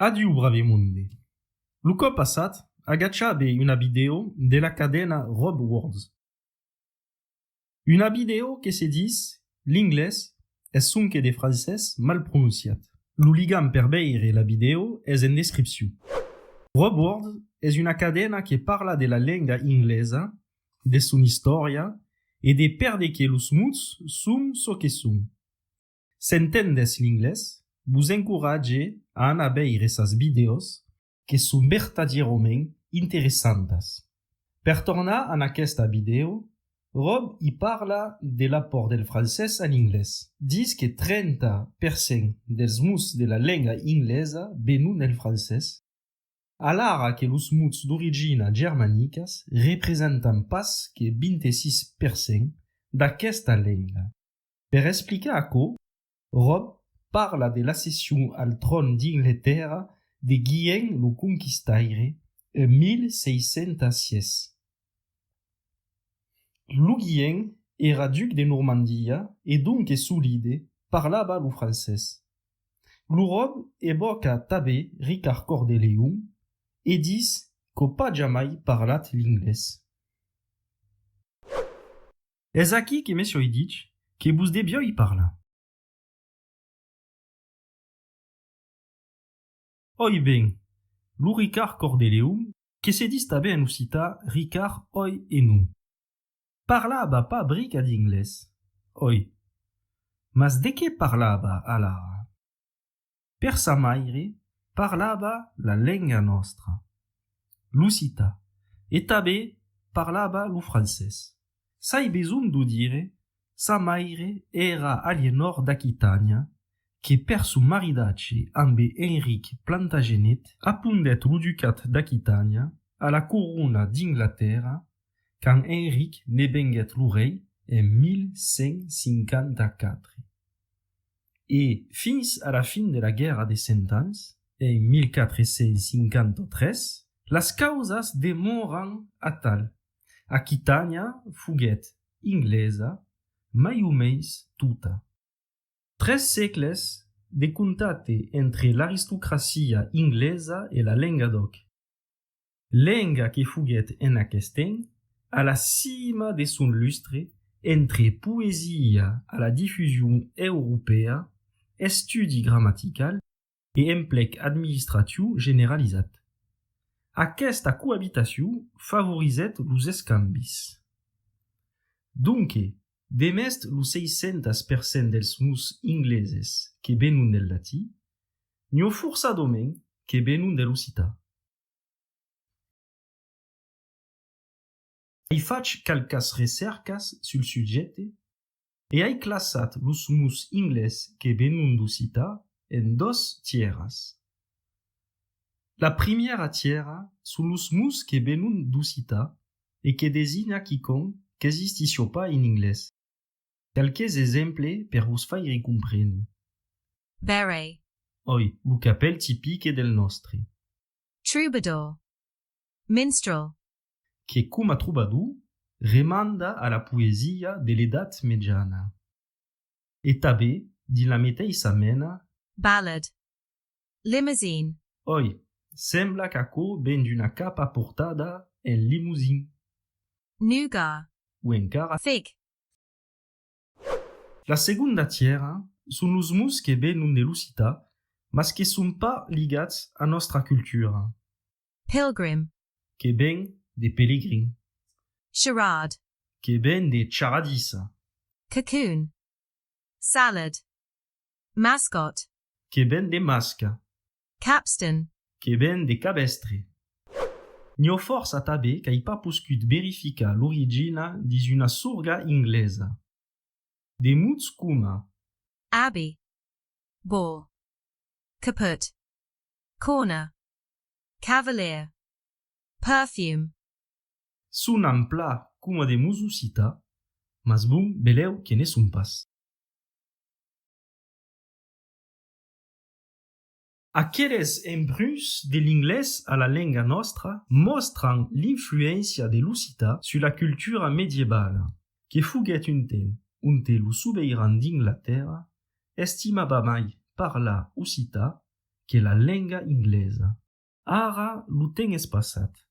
Adiu Bravemunde! Lo còp passat agachabe una vidèo de la cadena Rob Words. Una vidèo que se dis l'inglés es sonque de francés mal prononciat. Lo ligam per veire la vidèo es en descripcion. Rob Words es una cadena que parla de la lenga inglesa, de son istòria e de perdeque los mots son çò que son. S'entendes l'inglés, vos encoratge a anar veire sas vidèos que son vertadièrament interessantas. Per tornar en aquesta vidèo, Rob i parla de l'apòrt del francés a l'inglés. Dis que 30 per cent dels mots de la lenga inglesa venon del francés, alara que los mots d'origina germanicas representan pas que 26 per cent d'aquesta lenga. Per explicar aquò, Rob parla de l'accession al tròn d'Ingletèrra de Guillem lo Conquistaire en 1606. Lo Guillem èra duc de Normandia e donques solide parlava lo francés. Lo Rob evòca tanben Ricard Còr de Leon e ditz qu'au pas jamai parlat l'inglés. Es aquí que mès oi dich que vos de vioi parlar. Oi ben, lo Ricard Cordeleu, que se dis tanben en occità Ricard oi e non, parlava pas brica d'inglés, oi, mas de qué parlava alara? Per sa maire parlava la lenga nòstra, l'occità, e tanben parlava lo francés. S'ai besonh d'o dire, sa maire èra Alienòr d'Aquitània que per son maridatge ambe Enric Plantagenet apondèt lo ducat d'Aquitània a la corona d'Inglatèrra quand Enric ne venguèt lo rei en 1154. E fins a la fin de la Guèrra de Cent Ans, en 1453, las causas demòran atal. Aquitània foguèt inglesa mai o meis tota. Tres sègles de contate entre l'aristocracia inglesa e la lenga d'òc. lenga que foguèt en aqueth temps a la cima de son lustre entre poesia a la difusion europèa, estudi gramatical e emplec administratiu generalizat. Aquesta coabitacion favorizèt los escambis. Donque, demest lo 600 per cent dels mots ingleses que venon del latí, n'io forçadament que venon de l'occitan. Ai fach qualquas recèrcas sul subjècte e ai classat los mots inglés que venon d'occitan en dos tièras. La primièra tièra son los mots que venon d'occitan e que designa quicòm qu'existission pas en inglés. Qualques exemple per vos faire comprene. Beret. Oi, lo capèl tipique del nòstre. Troubadour. Minstrel. Que coma troubadour, remanda a la poesia de l'Edat Mejana. E tabé, dins la meteissa mena. Ballad. Limousine. Oi, sembla qu'aquò ven d'una capa portada en Limousin. Nougat. O encara. Fig. La segonda tièra son los mots que venon de l'occità mas que son pas ligats a nòstra cultura. Pilgrim. Que ven de pelegrin. Charade. Que ven de charadissa. Cocoon. Salad. Mascot. Que ven de masca. Capstan. Que ven de cabestre. Nhò fòrs atabé qu'ai pas poscut verificar l'origina dins una sorga inglesa. De mots coma. Abbey. Ball. Caput. Corner. Cavalier. Perfume. Sonan plan coma de mots occità, mas bon, belèu que ne son pas. Aqueles embruns de l'inglés a la lenga nòstra mòstran l'influéncia de l'occità sus la cultura medievala que foguèt un temps onte lo sobeiran d'Inglatèrra estimava mai parlar occità que la lenga inglesa. Ara lo temps es passat.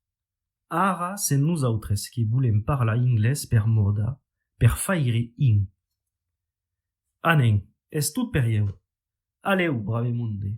Ara sen nosautres que volem parlar inglés per mòda, per faire in. A nen, es tot per ieu. Aleu, brave monde!